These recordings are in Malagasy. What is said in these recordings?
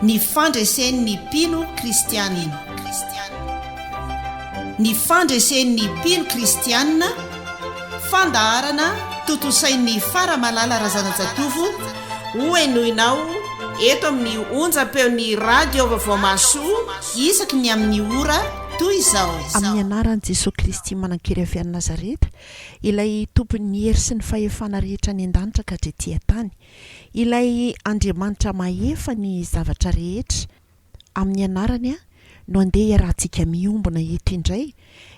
Ny fandresen'ny mpino kristianina. Ny fandresen'ny mpino kristianina, fandaharana tontosain'ny Faramalala Razanajatovo hohenoinao eto amin'ny onjam-peon'ny Radio Vaovao Mahasoa isaky ny amin'ny ora toy izao. Amin'ny anaran'i Jesoa Kristy Manan-kery avy any Nazareta Ilay Tompon' ny hery sy ny fahefana rehetra any an-danitra ka hatrety an-tany, Ilay Andriamanitra mahefa ny zavatra rehetra, Amin'ny Anarany no andeha iarahantsika miombona eto indray,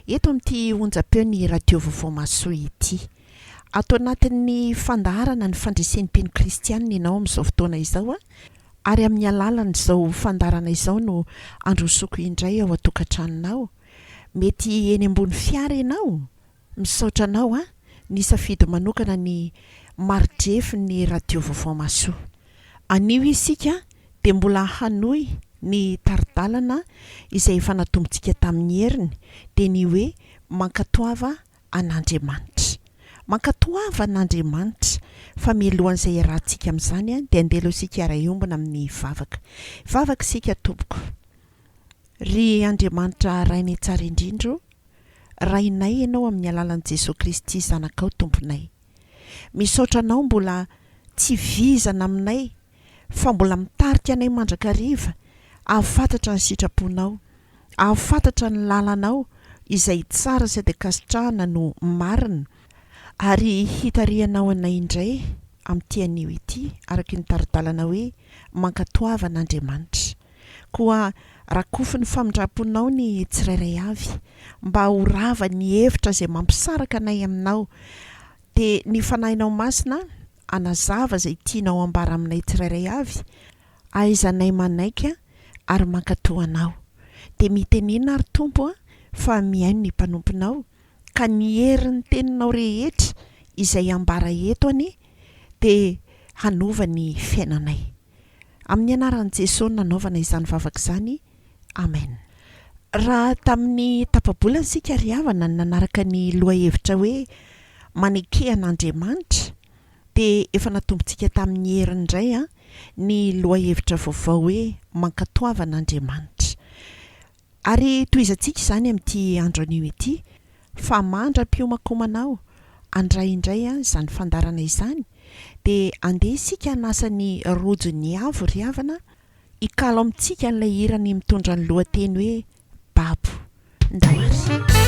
eto amin'ity onjam-peo ny Radio Vaovao Mahasoa ity. Ato anatin'ny fandaharana ny fandresen-teny kristianina ianao amin'izao fotoana izao, ary amin'ny alalan'izao fandaharana izao no androsoko indray ao an-tokantranonao, Mety eny ambony fiara ianao? Misaotra anao an! Nisafidy manokana ny maridrefin ny radio vaovao mahasoa. Anio isika dia mbola hanohy ny taridalana izay efa natombontsika tamin ny heriny, dia ny hoe mankatoava an Andriamanitra. Mankatoava an Andriamanitra fa mialohan izay iarahantsika amin izany dia andeha aloha isika hiara hiombona amin ny vavaka. Hivavaka isika tompoko. Ry Andriamanitra Ray May Tsara Indrindra ô, Rainay Ianao amin'ny alalan'i Jesoa Kristy Zanakao Tomponay. Misaotra Anao mbola tsy vizana aminay fa mbola mitarika anay mandrakariva ahafantatra ny sitraponao, ahafantatra ny lalanao izay tsara sady ankasitrahana no marina ary hitarihanao anay indray amin'ity anio ity araka ny tari-dalana hoe Mankatoavan' Andriamanitra. Koa rakofin'ny famindramponao ny tsirairay avy, mba ho rava ny hevitra izay mampisaraka anay aminao, dia ny Fanahinao Masina hanazava izay tianao hambara aminay tsirairay avy, ahaizanay manaiky ary mankatoa Anao. Dia mitenena ary Tompo fa mihaino ny mpanomponao, ka ny herin'ny teninao rehetra izay ambara eto anie dia hanova ny fiainanay. Amin'ny anaran'i Jesoa no nanaovana izany vavaka izany, Amen. Raha tamin'ny tapa-bola isika ry havana no nanaraka ny lohahevitra hoe Maneke an'Andriamanitra dia efa natombontsika tamin'ny heriny indray an, ny lohahevitra vaovao hoe Mankatoava an'Andriamanitra. Ary tohizantsika izany amin'ity andro anio ity, fa mandra-piomankomana aho handray indray izany fandaharana izany, dia andeha isika hanasa ny rojon'ny avo ry havana hikalo amintsika an'ilay hirany mitondra ny lohateny hoe Babo. Ndao ary.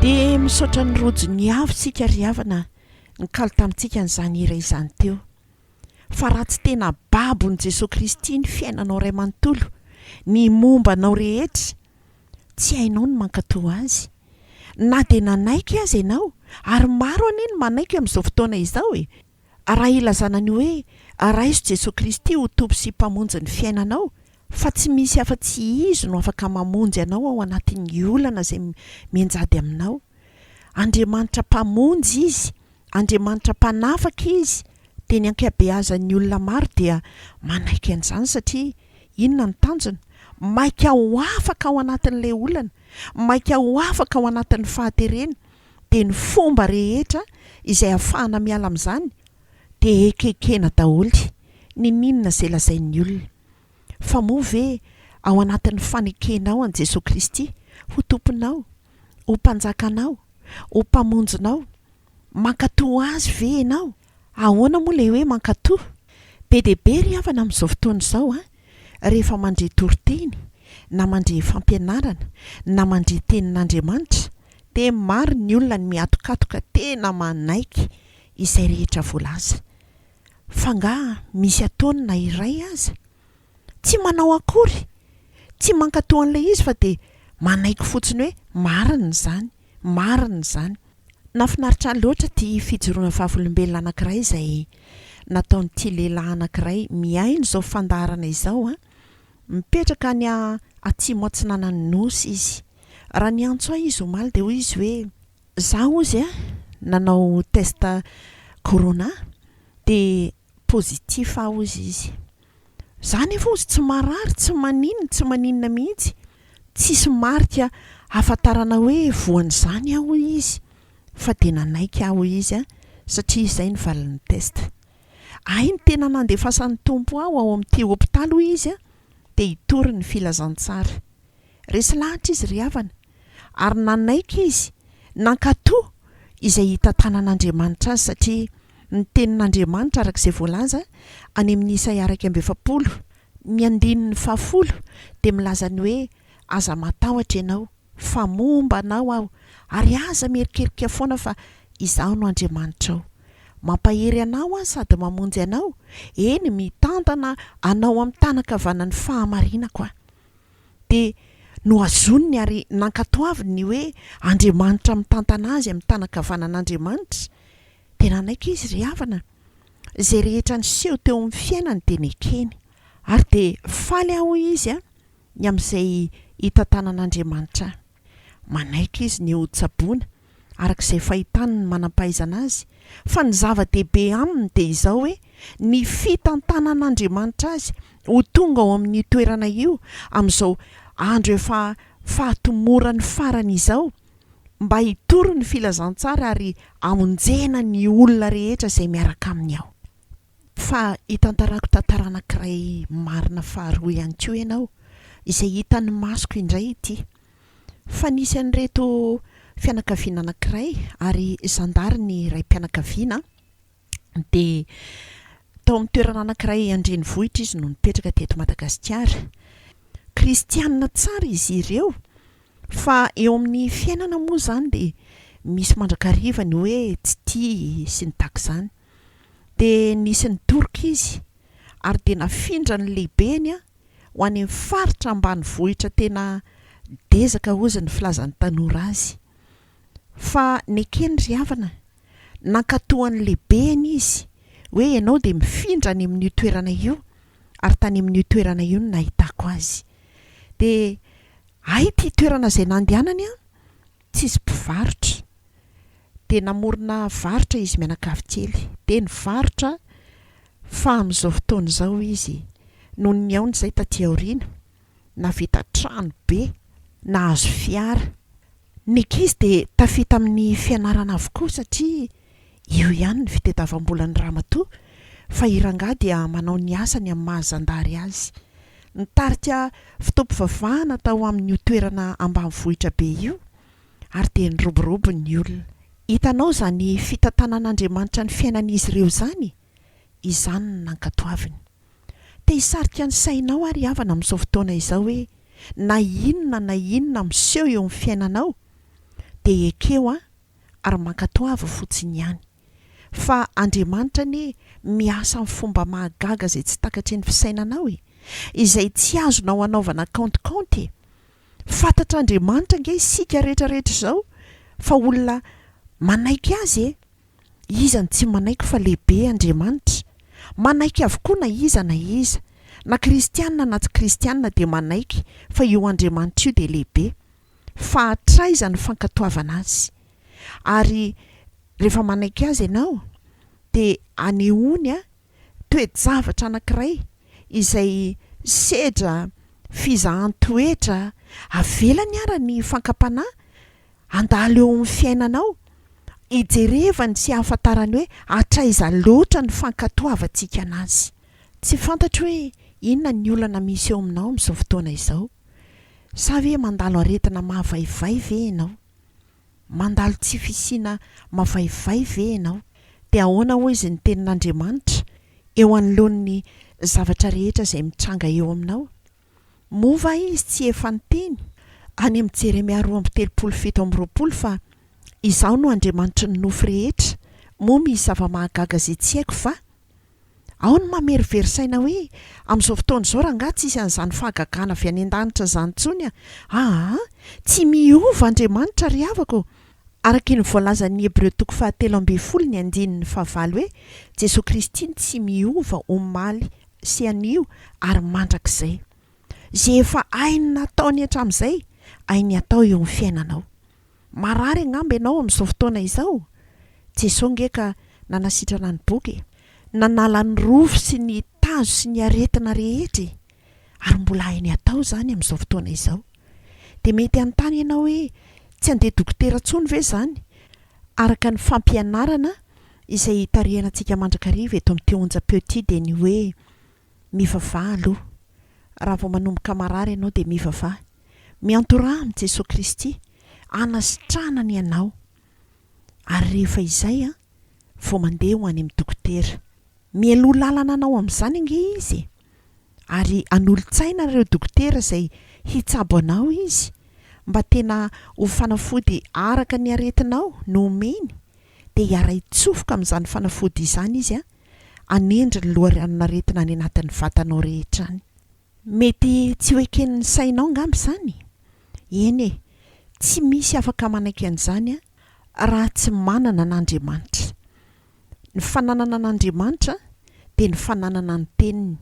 Dia misaotra ny Rojo niavo isika ry havana nikalo tamintsika an'izany hira izany teo. Fa raha tsy tena babon'i Jesoa Kristy ny fiainanao Ray manontolo, ny momba anao rehetra, tsy hainao ny mankatò Azy. Na dia nanaiky aza ianao, ary maro anie ny manaiky amin'izao fotoana izao e! ary raha ilazana ny hoe araiso Jesoa Kristy ho Tompo sy Mpamonjy ny fiainanao fa tsy misy afa-tsy Izy no afaka mamonjy anao ao anatin'ny olana izay mianjady aminao, Andriamanitra Mpamonjy Izy, Andriamanitra Mpanafaka Izy, dia ny ankabeazan'ny olona maro dia manaiky an'izany satria inona no tanjona? Maika ho afaka ao anatin'ilay olana, maika ho afaka ao anatin'ny fahaterena, dia ny fomba rehetra izay ahafahana miala amin'izany dia ekekena daholo, niniana izay lazain'ny olona. Fa moa ve ao anatin'ny fanekenao an'i Jesoa Kristy ho Tomponao, ho Mpanjakanao, ho Mpamonjinao, mankatò Azy ve ianao? Ahoana moa ilay hoe mankatò? Be dia be ry havana amin'izao fotoana izao an! Rehefa mandre toriteny, na mandre fampianarana, na mandre tenin'Andriamanitra, dia maro ny olona ny mihatokatoka tena manaiky izay rehetra voalaza. F'angaha misy ataony na iray aza? Tsy manao akory! Tsy mankatò an'ilay izy fa dia manaiky fotsiny hoe marina izany. Marina izany. Nafinaritra loatra ty fijoroana vavolombelona anakiray izay nataon'ity lehilahy anakiray mihaino izao fandaharana izao a! Mipetraka any atsimo atsinanan'ny Nosy izy. Raha niantso ahy izy omaly dia hoy izy hoe, za hozy a! nanao test corona dia positif aho hozy izy. Za nefa ozy tsy marary tsy manin tsy maninona mihitsy tsisy marika ahafantarana hoe voan'izany aho hoy izy fa dia nanaiky aho hoy izy an satria izay ny valin'ny test ahy ny tena nandefasan'ny Tompo aho ao amin'ity hopitaly hoy izy an dia hitory ny filazantsara resy lahatra izy ry havana ary nanaiky izy, nankatò izay hitantanan'Andriamanitra azy, satria ny tenin'Andriamanitra, araka izay voalaza any amin'ny Isaia iraika amby efapolo, ny andininy fahafolo, dia milaza ny hoe, Aza matahotra ianao, fa momba anao aho, ary aza mierikerika foana fa Izaho no Andriamanitrao. Mampahery anao Aho sady mamonjy anao, eny, mitantana anao amin'ny tànan-kavanan'ny fahamarinako Aho. dia nohazoniny ary nankatoaviny ny hoe Andriamanitra mitantana azy amin'ny tanan-kavanan'Andriamanitra, dia nanaiky izy ry havana. Izay rehetra niseho teo amin'ny fiainany dia nekeny. Ary dia faly aho, hoy izy, ny amin'izay hitantanan'Andriamanitra ahy. Manaitra izy ny hotsaboina, araka izay fahitany ny manam-pahaizana azy, fa ny zava-dehibe aminy dia izao hoe ny fitantanan'Andriamanitra azy ho tonga ao amin'io toerana io amin'izao andro efa fahatomorany farany izao, mba hitory ny filazantsara ary hamonjena ny olona rehetra izay miaraka aminy ao. Fa hitantarako tantara anankiray marina faharoa ihany koa ianao, izay hitan'ny masoko indray ity. Fa nisy an'ireto fianakaviana anankiray, ary zandary ny raim-pianakaviana an, dia tao amin'ny toerana anankiray an-drenivohitra izy no nipetraka teto Madagasikara. Kristianina tsara izy ireo, fa eo amin'ny fiainana moa izany dia misy mandrakariva ny hoe tsy tia sy ny tahaka izany. dia nisy nidoroka izy ary dia nafindra ny lehibeny ho any amin'ny faritra ambanivohitra tena dezaka hozy ny filazan'ny tanora azy fa nekeny ry havana nankatoa an'ny lehibeny izy hoe ianao dia mifindra any amin'io toerana io ary tany amin'io toerana io no nahitako azy dia hay ity toerana izay nandehanany an Tsisy mpivarotra. Dia namorona varotra izy mianakavy kely. Dia nivarotra fa amin'izao fotoana izao izy, noho ny nihaony izay taty aoriana, nahavita trano be, nahazo fiara. Ny ankizy dia tafita amin'ny fianarana avokoa satria Io ihany ny fitedavambolan'ny ramatoa fa i rangahy dia manao ny asany amin'ny maha zandary azy. Nitarika fotoam-pivavahana tao amin'io toerana ambanivohitra be io ary dia niroborobo ny olona. Hitanao izany fitantanan'Andriamanitra ny fiainan'izy ireo izany? Izany no nankatoaviny. Te hisarika ny sainao àry havana amin'izao fotoana izao hoe na inona na inona miseho eo amin'ny fiainanao dia ekeo an! ary mankatoava fotsiny ihany. Fa Andriamanitra anie miasa amin'ny fomba mahagaga izay tsy takatry ny fisainanao e! Izay tsy azonao anaovana kaontikaonty e! Fantatr'Andriamanitra ange isika rehetra rehetra izao fa olona manaiky Azy e! Iza no tsy manaiky fa lehibe Andriamanitra? Manaiky avokoa na iza na iza, na kristiana na tsy kristiana dia manaiky fa io Andriamanitra io dia lehibe. fa hatraiza ny fankatoavana azy. Ary rehefa manaiky azy ianao dia anehoany toe-javatra anankiray izay sedra fizahan-toetra avelany ara ny fankam-panahy handalo eo amin'ny fiainanao, hijerevany sy hahafantarany hoe hatraiza loatra ny fankatoavantsika an'azy. Tsy fantatro hoe inona ny olana misy eo aminao amin'izao fotoana izao. Sa ve mandalo aretina mavaivay ve ianao? Mandalo tsy fisiana mavaivay ve ianao? Dia ahoana hoy izy ny Tenin'Andriamanitra eo anoloan'ny zavatra rehetra izay mitranga eo aminao? Moa va Izy tsy efa niteny any amin'ny Jeremia roa amby telopolo fito amby roapolo fa Izaho no Andriamanitry ny nofo rehetra, moa misy zava-mahagaga izay tsy haiko va? Ao ny mamerivery saina hoe, amin'izao fotoana izao rangaha tsisy an'izany fahagagana avy any an-danitra izany intsony a! Aa! Tsy miova Andriamanitra ry havako ô! Araky ny voalazan'ny Hebreo toko fahatelo ambin'ny folo ny andininy fahavalo hoe, Jesoa Kristy no tsy miova omaly sy anio ary mandrakizay. Izay efa hainy nataony hatramin'izay, hainy hatao eo amin'ny fiainanao. Marary angamba ianao amin'izao fotoana izao? Jesoa ange ka nanasitrana ny boka e! Nanala ny rofy sy ny tazo sy ny aretina rehetra e! Ary mbola hainy atao izany amin'izao fotoana izao. Dia mety hanontany ianao hoe, tsy handeha dokotera intsony ve izany? Araka ny fampianarana izay tarihina antsika mandrakariva eto amin'ity onjam-peo ity dia ny hoe, Mivavaha aloha. Raha vao manomboka marary ianao dia mivavaha. Miantoraha amin'i Jesoa Kristy hanasitrahana ny anao. Ary rehefa izay an, vao mandeha ho any amin'ny dokotera. Mialoha lalana anao amin'izany ange izy e! Ary hanolo-tsaina ireo dokotera izay hitsabo anao izy mba tena ho fanafody araka ny aretinao no omeny, dia hiara-hitsofoka amin'izany fanafody izany izy an, hanendry ny loharanon-aretina any anatin'ny vatanao rehetra any. Mety tsy ho eken'ny sainao angamba izany? Eny e, tsy misy afaka manaiky an'izany raha tsy manana an'Andriamanitra. Ny fananana an'Andriamanitra dia ny fananana ny Teniny.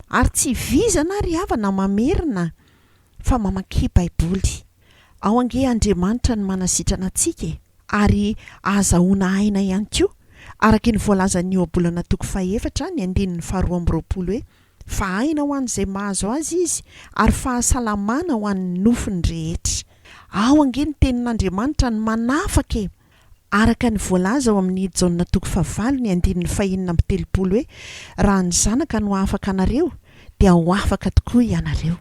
Ary tsy vizana ry havana mamerina fa mamakia baiboly. Ao ange Andriamanitra no manasitrana antsika e! Ary ahazahoana aina ihany koa, araka ny voalazan'ny Ohabolana toko fahefatra ny andininy faharoa amby roapolo hoe, Fa aina ho an'izay mahazo azy izy, ary fahasalamana ho an'ny nofony rehetra. Ao ange ny tenin'Andriamanitra no manafaka e! Araka ny voalaza ao amin' ny Jaona toko fahavalo ny andininy fahenina amby telopolo hoe, Raha ny Zanaka no afaka anareo, dia ho afaka tokoa ianareo.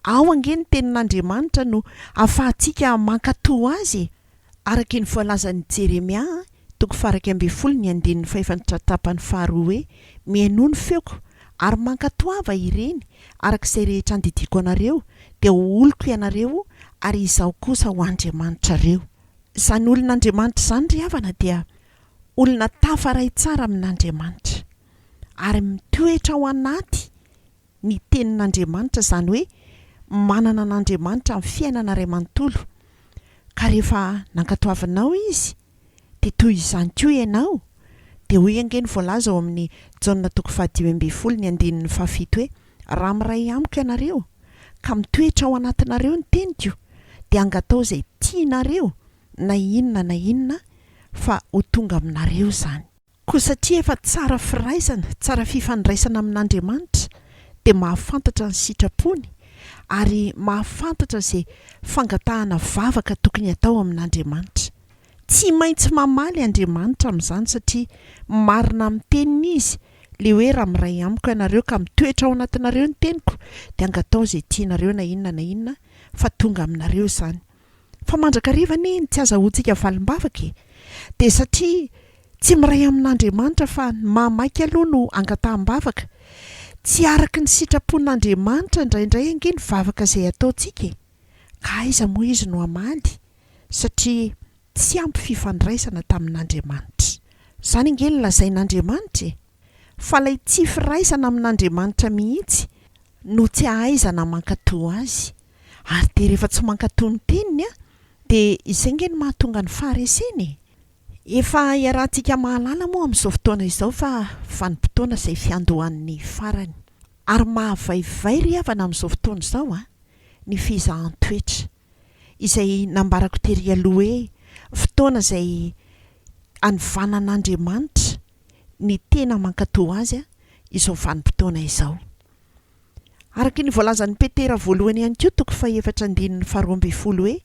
Ao ange ny tenin' Andriamanitra no ahafahantsika mankato Azy e! Araka ny voalazan' i Jeremia toko faharaika ambin'ny folo ny andininy fahefantra tapany faharoa hoe, Mihainoa ny feoko, ary mankatoava ireny, araka izay rehetra andidiako anareo, dia ho oloko ianareo, ary Izaho kosa ho Andriamanitrareo. Izany olon'Andriamanitra izany ry havana dia olona tafaray tsara amin'Andriamanitra ary mitoetra ao anaty ny tenin'Andriamanitra izany hoe manana an'Andriamanitra amin'ny fiainana iray manontolo ka rehefa nankatoavinao Izy dia toy izany koa ianao dia hoy ange ny voalaza ao amin'ny Jaona toko fahadimy ambin'ny folo ny andininy fahafito hoe Raha miray amiko ianareo, ka mitoetra ao anatinareo ny teniko, dia angatao izay tianareo na inona na inona, fa ho tonga aminareo izany. Koa satria efa tsara firaisana, tsara fifandraisana amin'Andriamanitra, dia mahafantatra ny sitrapony, ary mahafantatra izay fangatahana vavaka tokony hatao amin'Andriamanitra. Tsy maintsy mamaly Andriamanitra amin'izany, satria marina amin'ny teniny Izy, Ilay hoe raha miray amiko ianareo ka mitoetra ao anatinareo ny teniko dia angataho izay tianareo na inona na inona fa tonga aminareo izany. Fa mandrakariva anie iny tsy azahoantsika valim-bavaka e! Dia satria tsy miray amin'Andriamanitra fa ny maha maika aloha no angataham-bavaka. Tsy araka ny sitrapon'Andriamanitra indraindray ange ny vavaka izay ataontsika e! Ka aiza moa Izy no hamaly satria Tsy ampy fifandraisana tamin'Andriamanitra. Izany ange no lazain'Andriamanitra e! Fa ilay tsy firaisana amin'Andriamanitra mihitsy no tsy ahaizana mankatò Azy. Ary dia rehefa tsy mankatò ny Teniny an, dia izay ange no mahatonga ny faharesena e! Efa iarahantsika mahalala moa amin'izao fotoana izao fa vanim-potoana izay fiandohan'ny farany. Ary mahavaivay ry havana amin'izao fotoana izao an, ny fizahan-toetra. izay nambarako tery aloha hoe fotoana izay anovanan'Andriamanitra ny tena mankatò Azy izao vanim-potoana izao. Araka ny voalazan'i Petera voalohany ihany koa, toko fahefatra andininy faharoa ambin'ny folo hoe,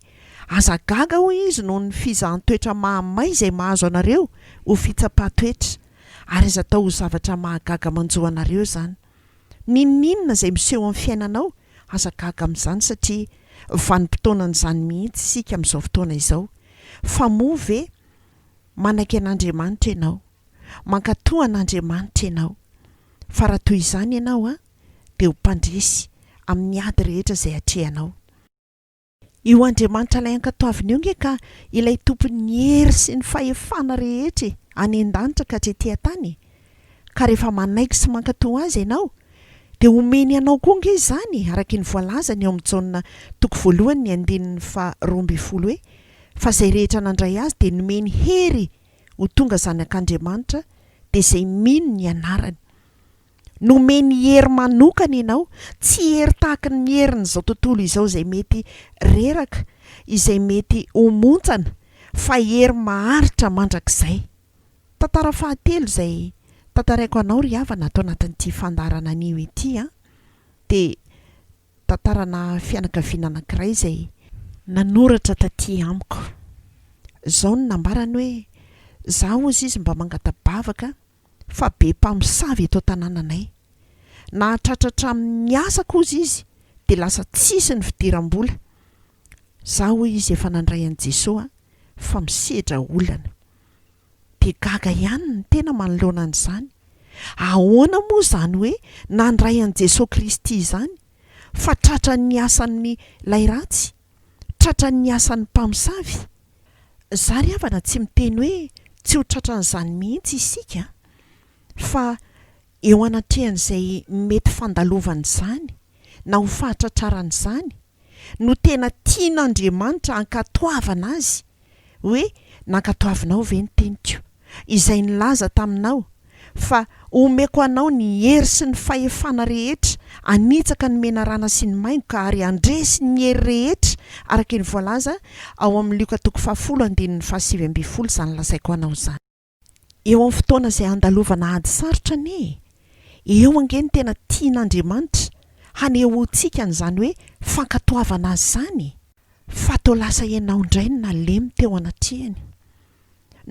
Aza gaga, hoy Izy, noho ny fizahan-toetra mahamay izay mahazo anareo ho fitsapan-toetra, ary aza atao ho zavatra mahagaga manjo anareo izany. N'inon'inona izay miseho amin'ny fiainanao, aza gaga amin'izany satria vanim-potoanan'izany mihitsy isika amin'izao fotoana izao. Fa moa ve manaiky an'Andriamanitra ianao? Mankatò an'Andriamanitra ianao? Fa raha toy izany ianao, dia ho mpandresy amin'ny ady rehetra izay atrehanao. Io Andriamanitra Ilay Ankatoavina io nge ka Ilay Tompon'ny hery sy ny fahefana rehetra e, any an-danitra ka tsy ety an-tany e. Ka rehefa manaiky sy mankatò Azy ianao, dia omeny anao koa nge izany, araky ny voalazany eo amin'ny Jaona toko voalohany ny andininy faha roa ambin'ny folo hoe, Fa izay rehetra nandray Azy dia nomeny hery ho tonga zanak'Andriamanitra, dia izay mino ny anarany. nomeny hery manokana ianao, tsy hery tahaka ny herin'izao tontolo izao izay mety reraka, izay mety ho montsana, fa hery maharitra mandrakizay. Tantara fahatelo izay tantaraiko anao ry havana ato anatin'ity fandaharana anio ity an, dia tantarana fianakaviana anankiray izay nanoratra taty amiko. Izao no nambarany hoe, Za hozy izy mba mangata-bavaka an, fa be mpamosavy eto an-tanànanay. Nahatratra hatramin'ny asa kosa izy dia lasa tsisy ny fidiram-bola. Za hoy izy efa nandray an'i Jesoa fa misedra olana. Dia gaga ihany ny tena manoloana an'izany. Ahoana moa izany hoe nandray an'i Jesoa Kristy izany fa tratran'ny asan'ilay ratsy? tratran'ny asan'ny mpamosavy. Za ry havana tsy miteny hoe tsy ho tratran'izany mihitsy isika fa eo anatrehan'izay mety fandalovan'izany na ho fahatratrarana izany no tena tian'Andriamanitra ankatoavana azy hoe nankatoavinao ve ny teniko, izay nilaza taminao fa omeko anao ny hery sy ny fahefana rehetra hanitsaka ny menarana sy ny maingoka ary handresy ny hery rehetra, araka ny voalaza ao amin'ny Lioka toko fahafolo andininy fahasivy ambin'ny folo izany lazaiko anao izany. Eo amin'ny fotoana izay handalovana ady sarotra anie e! Eo ange ny tena tian'Andriamanitra hanehoantsika an'izany hoe fankatoavana Azy izany e! Fa toa lasa ianao indray no nalemy teo anatrehany.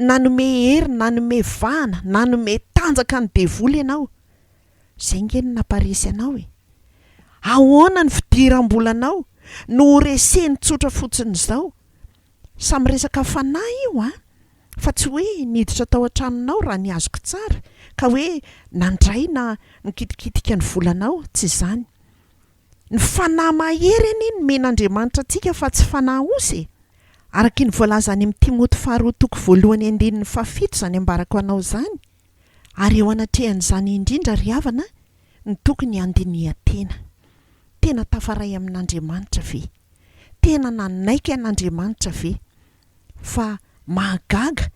Nanome hery, nanome vahana, nanome tanjaka ny devoly ianao. Izay ange no nampaharesy anao e! Ahoana ny fidiram-bolanao no horeseny tsotra fotsiny izao? Samy resaka fanahy io an! Fa tsy hoe niditra tao an-tranonao raha ny azoko tsara ka hoe nandray na nikitikitika ny volanao, tsy izany. Ny fanahy mahery anie nomen'Andriamanitra antsika fa tsy fanahy osy e! Araka ny voalaza any amin'ny Timoty faharoa toko voalohany andininy fahafito izany ambarako anao izany, Ary eo anatrehan'izany indrindra ry havana no tokony handinihan-tena. Tena tafaray amin'Andriamanitra ve? Tena nanaiky an'Andriamanitra ve? Fa mahagaga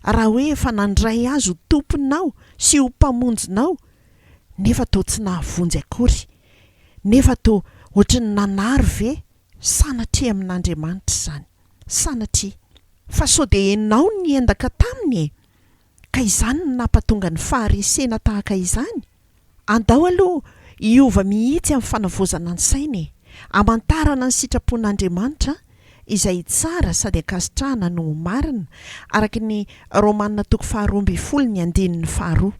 raha hoe efa nandray Azy ho Tomponao sy ho Mpamonjinao nefa toa tsy nahavonjy akory, nefa toa ohatran'ny nanary ve? Sanatria amin'Andriamanitra izany! Sanatria! Fa sao dia ianao no niendaka taminy e? Ka izany no nampatonga ny faharesena tahaka izany? Andao aloha hiova mihitsy amin'ny fanavaozana ny saina e! Hamantarana ny sitrapon'Andriamanitra izay tsara sady ankasitrahana no ho marina, araka ny Romana toko faharoa ambin'ny folo ny andininy faharoa.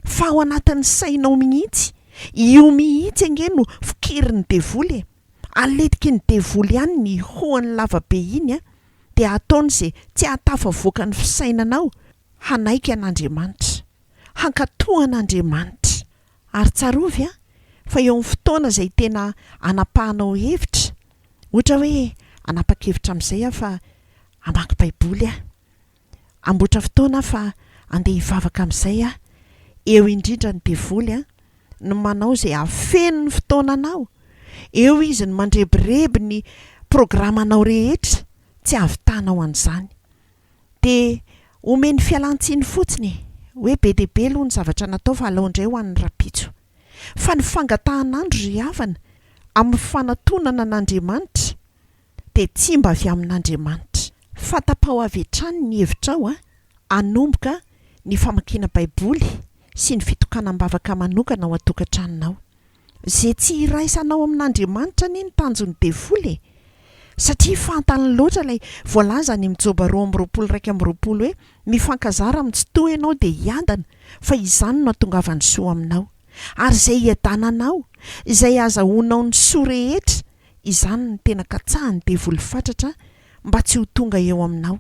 Fa ao anatin'ny sainao mihitsy, io mihitsy ange no fokerin'ny devoly e! Aletiky ny devoly ihany ny hihoany lava be iny an! dia hataony izay tsy hahatafavoaka ny fisainanao hanaiky an'Andriamanitra, hankatò an'Andriamanitra. Ary tsarovy an, fa eo amin'ny fotoana izay tena anapahanao hevitra, ohatra hoe hanapa-kevitra amin'izay aho fa hamaky Baiboly aho, Amboatra fotoana aho fa andeha hivavaka amin'izay aho, eo indrindra ny devoly an! ny manao izay hafeno ny fotoananao, eo izy no mandrebireby ny programanao rehetra, tsy havitanao an'izany. Dia omeny fialan-tsiny fotsiny e! hoe be dia be aloha ny zavatra natao fa alao indray ho an'ny rahampitso. Fa ny fangatahan'andro ry havana, amin'ny fanatonana an'Andriamanitra, dia tsy mba avy amin'Andriamanitra. Fanta-pao avy hatrany ny hevitrao hanomboka ny famakiana Baiboly sy ny fitokanam-bavaka manokana ao an-tokantranonao. Izay tsy iraisanao amin'Andriamanitra anie ny tanjon'ny devoly e! Satria fantany loatra ilay voalaza any amin'ny Joba roa amby roapolo iraika amby roapolo hoe, Mifankazara amin'ny tsy toa ianao dia hiadana, fa izany no hatongavan'ny soa aminao. Ary izay hiadananao, izay hahazahoanao ny soa rehetra, izany no tena katsahan'ny devoly fatratra mba tsy ho tonga eo aminao.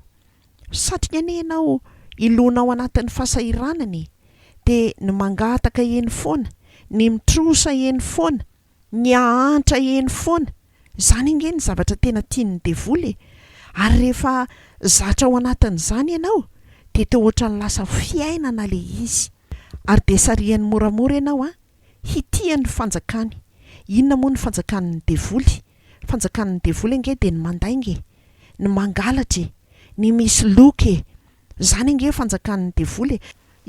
Satriny anie ianao hilona ao anatin'ny fasahiranana e! Dia ny mangataka eny foana, ny mitrosa eny foana, ny hahantra eny foana, izany ange ny zavatra tena tian'ny devoly e! Ary rehefa zatra ao anatin'izany ianao dia toa ohatran'ny lasa fiainana ilay izy. Ary dia sarihany moramora ianao an! hitia ny fanjakany, inona moa ny fanjakan'ny devoly, fanjakan'ny devoly ange dia ny mandainga e, ny mangalatra e, ny misy loka e, izany ange fanjakan'ny devoly e,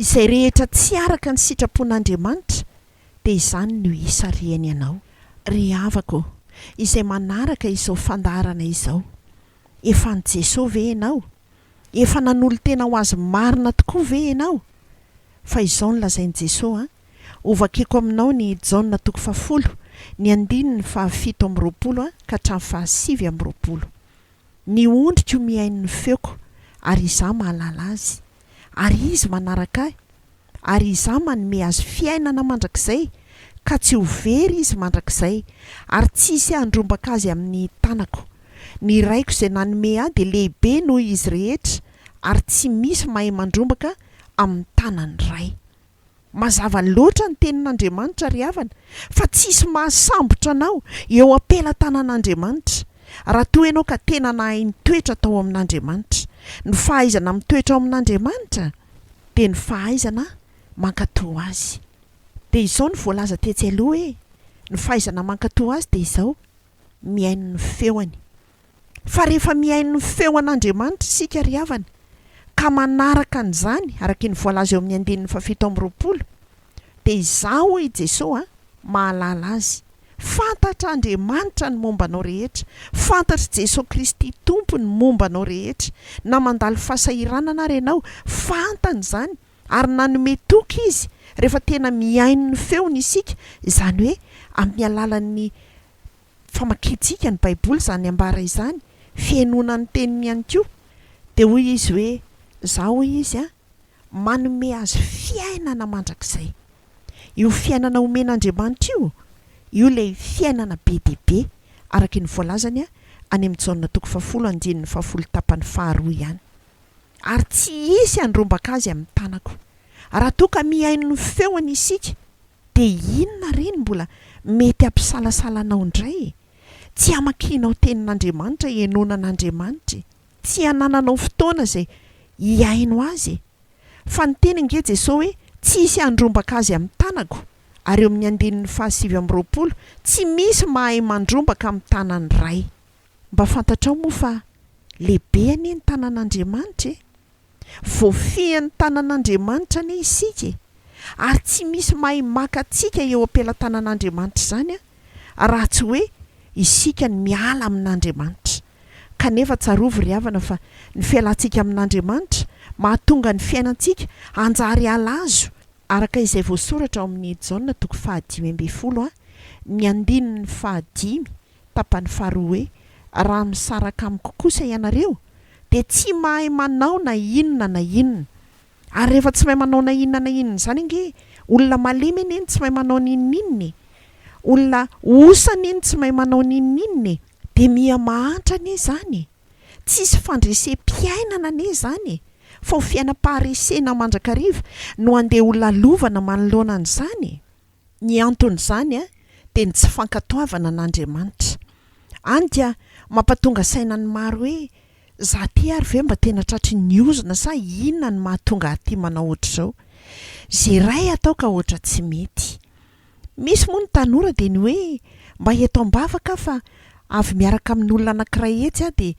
izay rehetra tsy araka ny sitrapon'Andriamanitra dia izany no hisarihany anao ry havako ô, izay manaraka izao fandaharana izao, efa an'i Jesoa ve ianao? efa nanolo-tena ho Azy marina tokoa ve ianao? fa izao no lazain'i Jesoa an, Hovakiko aminao ny Jaona toko fahafolo, ny andininy fahafito amby roapolo ka hatramin'ny fahasivy amby roapolo. Ny ondriko mihaino ny feoko, ary Izaho mahalala azy, ary izy manaraka Ahy, ary Izaho manome azy fiainana mandrakizay, ka tsy ho very izy mandrakizay, ary tsy hisy handrombaka azy amin'ny tanako. Ny Raiko izay nanome Ahy dia lehibe noho izy rehetra, ary tsy misy mahay mandrombaka amin'ny tanan'ny Ray. Mazava loatra ny tenin'Andriamanitra ry havana fa tsy hisy mahasambotra anao eo am-pelatanan'Andriamanitra raha toa ianao ka tena nahay nitoetra tao amin'Andriamanitra. Ny fahaizana mitoetra ao amin'Andriamanitra dia ny fahaizana mankatò Azy. Dia izao no voalaza tetsy aloha hoe ny fahaizana mankatò Azy dia izao, mihaino ny feony. fa rehefa mihaino ny feon' Andriamanitra isika ry havana, ka manaraka an'izany, araka ny voalaza eo amin'ny andininy fahafito amby roapolo, dia izaho, hoy i Jesoa, an, mahalala azy. Fantatr'Andriamanitra ny momba anao rehetra, fantatr'i Jesoa Kristy Tompo ny momba anao rehetra, na mandalo fahasahiranana ary ianao, fantany izany, ary nanome toky Izy rehefa tena mihaino ny feony isika, izany hoe amin'ny alalan'ny famakiantsika ny Baiboly izany ambara izany, fihainoana ny Teniny ihany koa. Dia hoy izy hoe, Izaho, hoy izy, manome azy fiainana mandrakizay. Io fiainana omen'Andriamanitra io, io ilay fiainana be dia be, araka ny voalazany any amin'ny Jaona toko fahafolo andininy fahafolo tapany faharoa ihany. Ary tsy hisy handrombaka azy amin'ny tanako. Raha toa ka mihaino ny feony isika, de inona re ny mbola mety hampisalasala anao indray e? Tsy hamakianao tenin'Andriamanitra henoana an'Andriamanitra e! Tsy hanananao fotoana izay hihaino Azy e! Fa niteny ange Jesoa hoe tsy hisy handrombaka Azy amin'ny tanako ary eo amin'ny andininy fahasivy amby roapolo tsy misy mahay mandrombaka amin'ny tanan'ny Ray. Mba fantatrao moa fa lehibe anie ny tanan'Andriamanitra e! Voafihan'ny tanan'Andriamanitra anie isika e! Ary tsy misy mahay maka antsika eo am-pelatanan'Andriamanitra izany raha tsy hoe isika no miala amin'Andriamanitra. Kanefa tsarovy ry havana fa ny fialantsika amin'Andriamanitra mahatonga ny fiainantsika hanjary halazo, araka izay voasoratra ao amin'ny Jaona toko fahadimy ambin'ny folo, ny andininy fahadimy, Tapany faharoa hoe, Raha misaraka amiko kosa ianareo, dia tsy mahay manao na inona na inona. Ary rehefa tsy mahay manao na inona na inona izany ange, olona malemy anie no tsy mahay manao ny inona inona e! Olona osa anie no tsy mahay manao ny inona inona e! Dia miha mahantra anie izany e! Tsisy fandresem-piainana anie izany e! Fa ho fiainam-paharesena mandrakariva no handeha holalovana manoloana an'izany e! Ny anton'izany dia ny tsy fankatoavana an'Andriamanitra. Any dia mampatonga saina ny maro hoe, Za ty ary ve mba tena tratry ny ozona sa inona no mahatonga ahy ty manao ohatr'izao? Ze ray atao ka ohatra tsy mety. Misy moa ny tanora dia ny hoe, mba eto ambavaka aho fa avy miaraka amin'olona anankiray etsy aho dia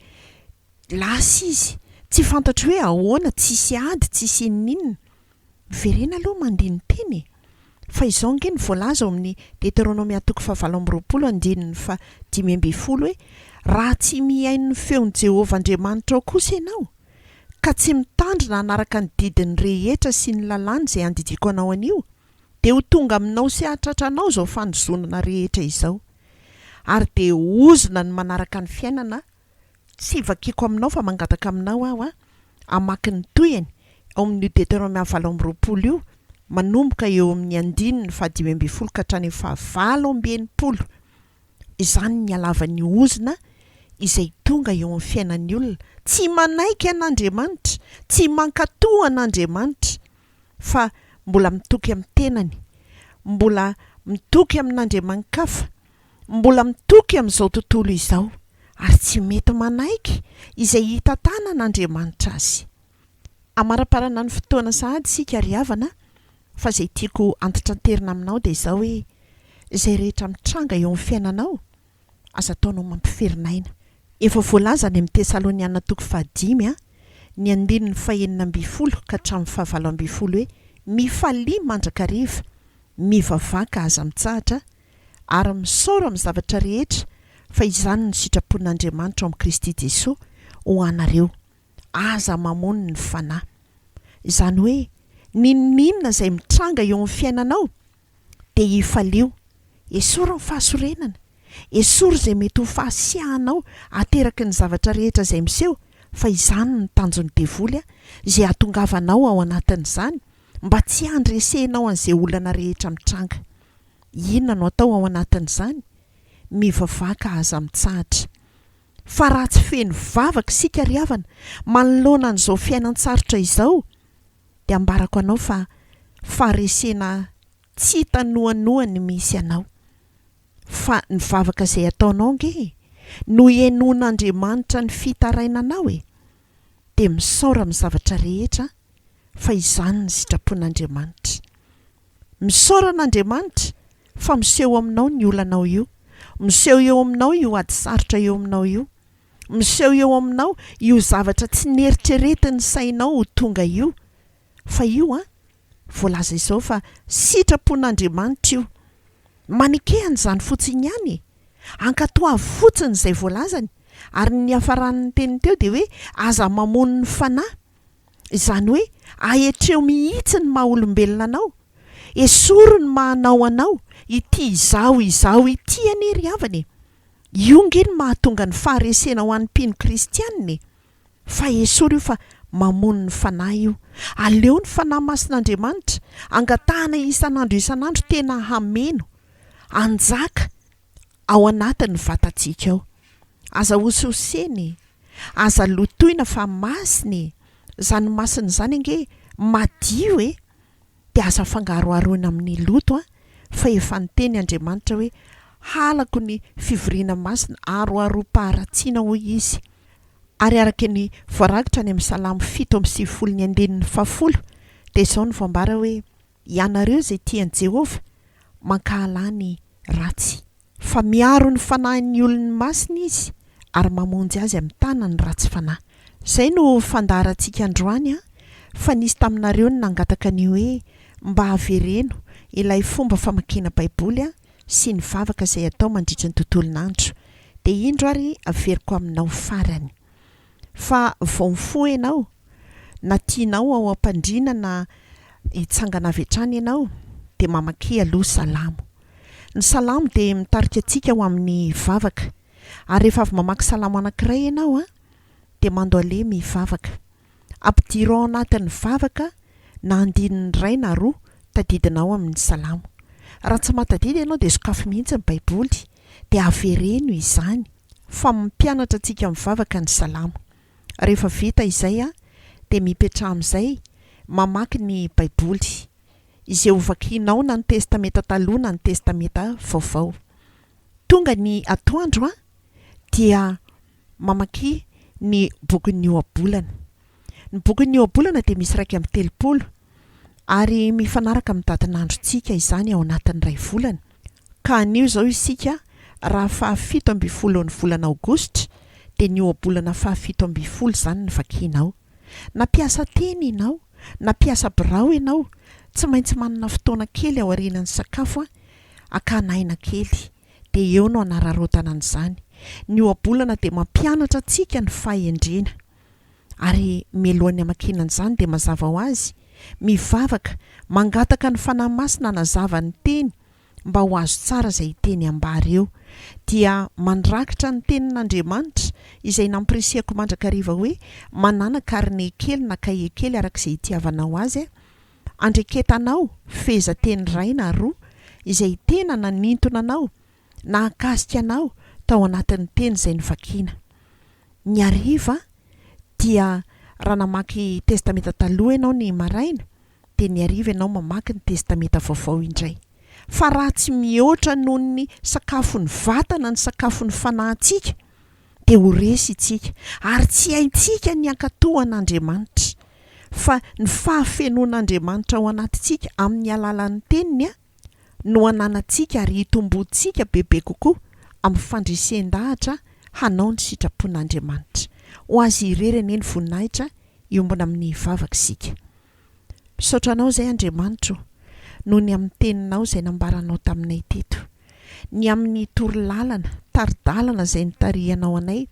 lasa izy, tsy fantatro hoe ahoana, tsisy ady, tsisy inon'inona. Miverena aloha mandihy ny teny e! Fa izao ange no voalaza ao amin'ny Deteronomia toko fahavalo amby roapolo andininy fahadimy ambin'ny folo hoe, Raha tsy mihaino ny feon'i Jehovah Andriamanitrao kosa ianao, ka tsy mitandrina hanaraka ny didiny rehetra sy ny lalàny izay andidiako anao anio, dia ho tonga aminao sy hahatratra anao izao fanozonana rehetra izao. Ary dia ozona ny manaraka ny fiainana Tsy vakiko aminao fa mangataka aminao aho a, hamaky ny tohiny ao amin' io Deteronomia valo amby roapolo io, manomboka eo amin' ny andininy fahadimy ambin'ny folo ka hatrany amin' ny fahavalo amby enimpolo. Izany ny halavan' ny ozona izay tonga eo amin' ny fiainan' ny olona tsy manaiky an' Andriamanitra, tsy mankatò an' Andriamanitra, fa mbola mitoky amin' ny tenany, mbola mitoky amin' andriamani-kafa, mbola mitoky amin'izao tontolo izao ary tsy mety manaiky izay hitantanan' Andriamanitra azy. Amaraparana ny fotoana sahady isika ry havana fa izay tiako antitranterina aminao dia izao hoe izay rehetra mitranga eo amin'ny fiainanao aza ataonao mampiferin'aina. Efa voalaza any amin'ny Tesaloniana toko fahadimy a ny andininy fahenina ambin'ny folo ka hatramin'ny fahavalo ambin'ny folo hoe mifalia mandrakariva, mivavaka aza mitsahatra, ary misaora amin'ny zavatra rehetra, fa izany no sitrapon'Andriamanitra ao amin'i Kristy Jesoa ho anareo. Aza mamono ny Fanahy. Izany hoe, n'inon'inona izay mitranga eo amin'ny fiainanao, dia hifalio. Esory ny fahasorenana. Esory izay mety ho fahasiahanao ateraky ny zavatra rehetra izay miseho, fa izany no tanjon'ny devoly, izay hahatongavanao ao anatin'izany, mba tsy handresenao an'izay olana rehetra mitranga. Inona no atao ao anatin'izany? Mivavaha ka aza mitsahatra. Fa raha tsy feno vavaka isika ry havana, manoloana an'izao fiainan-tsarotra izao, dia ambarako anao fa faharesena tsy hita noanoa ny misy anao. Fa ny vavaka izay ataonao ange e, no henoin'Andriamanitra ny fitarainanao e. Dia misaora amin'ny zavatra rehetra an, fa izany ny sitrapon'Andriamanitra. Misaora an'Andriamanitra fa miseho aminao ny olanao io, miseho eo aminao io ady sarotra eo aminao io, miseho eo aminao io zavatra tsy neritreretin'ny sainao ho tonga io, fa io an, voalaza izao fa sitrapon'Andriamanitra io, maneke an'izany fotsiny ihany e! ankatoavy fotsiny izay voalazany, ary ny niafaran'ny teniny teo dia hoe aza mamono ny fanahy, Izany hoe, ahetreho mihitsy ny maha olombelona anao, esory ny maha anao anao, ity izaho izaho ity anie ry havana e! Io nge no mahatonga ny faharesena ho an'ny mpino kristianina e! Fa esory io fa mamono ny fanahy io. Aleo ny Fanahy Masin'Andriamanitra angatahana isan'andro isan'andro tena hameno, hanjaka, ao anatin'ny vatantsika ao. Aza hosihosena e! Aza lotoina fa masina e! Izany masina izany ange madio e! Dia aza afangaroharoina amin'ny loto an! Fa efa niteny Andriamanitra hoe, Halako ny fivoriana masina, aroharom-paharatsiana hoy Izy. Ary araka ny voarakitra any amin'ny Salamo fito amby sivifolo ny andininy fahafolo dia izao no voambara hoe, Ianareo izay tia an'i Jehovah, mankahala ny ratsy. Fa miaro ny fanahin'ny olony masina izy, ary mamonjy azy amin'ny tanan'ny ratsy fanahy. Izay no fandaharantsika androany, fa nisy taminareo ny nangataka ny hoe mba avereno ilay fomba famakiana Baiboly sy ny vavaka izay atao mandritra ny tontolon'andro. Dia indro ary averiko aminao farany. fa vao mifoha ianao, na tianao ao am-pandriana na hitsangana avy hatrany ianao, dia mamaky aloha Salamo. Ny Salamo dia mitarika antsika ho amin'ny vavaka. Ary rehefa avy mamaky Salamo anankiray ianao an, dia mandohalemy hivavaka. Ampidiro ao anatin'ny vavaka na andininy iray na roa tadidinao amin'ny Salamo. Raha tsy mahatadidy ianao dia sokafy mihitsy ny Baiboly dia avereno izany. Fa mampianatra antsika mivavaka ny Salamo. Rehefa vita izay dia mipetraha amin'izay mamaky ny Baiboly, izay ho vakianao na ny Testamenta Taloha na ny Testamenta Vaovao. Tonga ny atoandro dia mamaky ny bokin'ny Ohabolana. Ny bokin'ny Ohabolana dia misy iraika amby telopolo. ary mifanaraka amin'ny dadin'androntsika izany ao anatin'ny iray volana, ka anio izao isika raha fahafito ambin'ny folon'ny volana aogositra dia ny ohabolana fahafito ambin'ny folo izany no vakinao. Na mpiasa teny ianao na mpiasa birao ianao, tsy maintsy manana fotoana kely aorianan'ny sakafo an, hakana aina kely, dia eo no hanararaotana an'izany. Ny ohabolana dia mampianatra antsika ny fahendrena. Ary mialohan'ny hamakiana an'izany dia mazava ho azy, mivavaka, mangataka ny Fanahy Masina hanazava ny Teny mba ho azo tsara izay hiteny ambara eo. Dia mandrakitra ny Tenin'Andriamanitra izay nampirisihako mandrakariva hoe, Manàna karine kely na kahie kely araka izay itiavanao azy, andreketanao fehezanteny iray na roa izay tena nanintona anao nahakasika anao tao anatin'ny teny izay novakiana. Ny hariva dia raha namaky Testamenta Taloha ianao ny maraina dia ny hariva ianao mamaky ny Testamenta Vaovao indray. Fa raha tsy mihoatra noho ny sakafon'ny vatana ny sakafon'ny fanahintsika dia ho resy isika ary tsy haintsika ny hankatò an'Andriamanitra. Fa ny fahafenoan'Andriamanitra ao anatintsika amin'ny alalan'ny Teniny an! no hananantsika ary hitomboantsika bebe kokoa amin'ny fandresen-dahatra hanao ny sitrapon'Andriamanitra. Ho Azy irery anie ny voninahitra hiombona amin'ny vavaka isika. Misaotra Anao izay Andriamanitra o, noho ny amin'ny Teninao izay nambaranao taminay teto, ny amin'ny torolalana, tari-dalana izay nitarihanao anay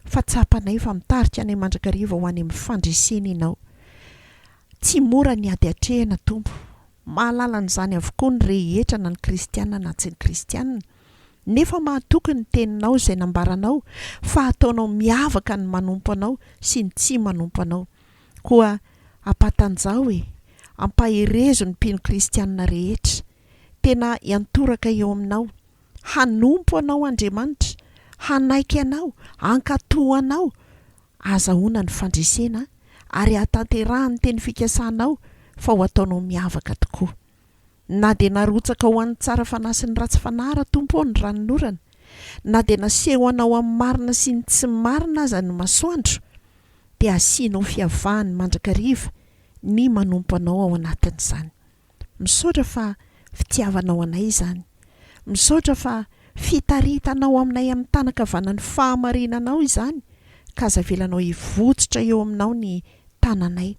fa tsapanay fa mitarika anay mandrakariva ho any amin'ny fandresena Ianao. Tsy mora ny ady atrehina Tompo. Mahalala an'izany avokoa ny rehetra na ny kristiana na tsy ny kristiana. Nefa mahatoky ny teninao izay nambaranao fa hataonao miavaka ny manompo anao sy ny tsy manompo anao. Koa ampatanjaho e! Ampaherezo ny mpino kristiana rehetra. Tena hiantoraka eo aminao. Hanompo anao Andriamanitra. Hanaiky anao. Hankatò anao. Ahazahoana ny fandresena ary ahatanterahan'ny teny fikasanao fa ho ataonao miavaka tokoa. Na dia narotsaka ho an'ny tsara fanahy sy ny ratsy fanahy raha Tompo ô ny ranonorana, na dia nasehonao amin'ny marina sy ny tsy marina aza ny masoandro, dia asianao fiavahany mandrakariva ny manompo anao ao anatin'izany. Misaotra fa fitiavanao anay izany. Misaotra fa fitaritanao aminay amin'ny tanan-kavanan'ny fahamarinanao izany ka aza avelanao hivotsotra eo aminao ny tananay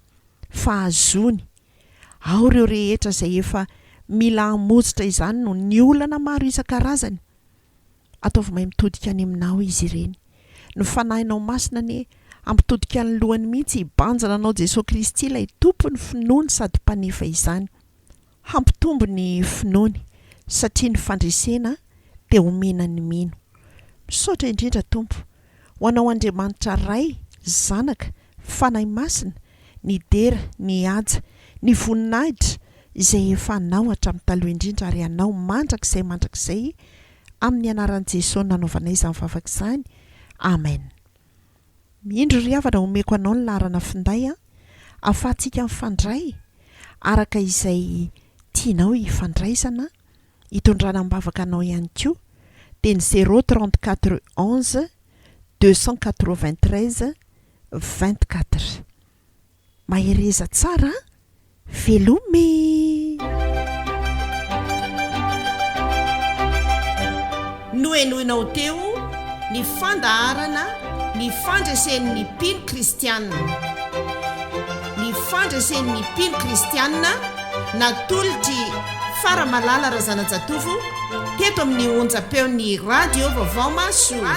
fa hazony ao ireo rehetra izay efa mila hamozotra izany noho ny olana maro isan-karazany Ataovy mahay mitodika any aminao izy ireny. Ny Fanahinao Masina anie hampitodika ny lohany mihitsy hibanjina anao Jesoa Kristy ilay Tompo ny finoany sady Mpanefa izany. Hampitombo ny finoany satria ny fandresena dia omena ny mino. Misaotra indrindra Tompo. Ho anao Andriamanitra Ray, Zanaka, Fanahy Masina, ny dera, ny haja, ny voninahitra izay efa anao hatramin'ny taloha indrindra ary anao mandrakizay mandrakizay amin'ny anaran'i Jesoa nanaovanay izany vavaka izany, Amen. Indro ry havana omeko anao ny laharana finday an, afahantsika mifandray araka izay tianao hifandraisana an. hitondrana am-bavaka anao ihany koa dia ny zéro trente quatre onze deux cent quatre vingt treize vingt quatre. Mahereza tsara a! Veloma e! Nohenoina ho teo ny fandaharana Ny Fandresen'ny Mpino Kristianina. Ny Fandresen'ny Mpino Kristianina natolotr'i Faramalala Razanajatovo teto amin'ny onjam-peon'ny Radio Vaovao Mahasoa.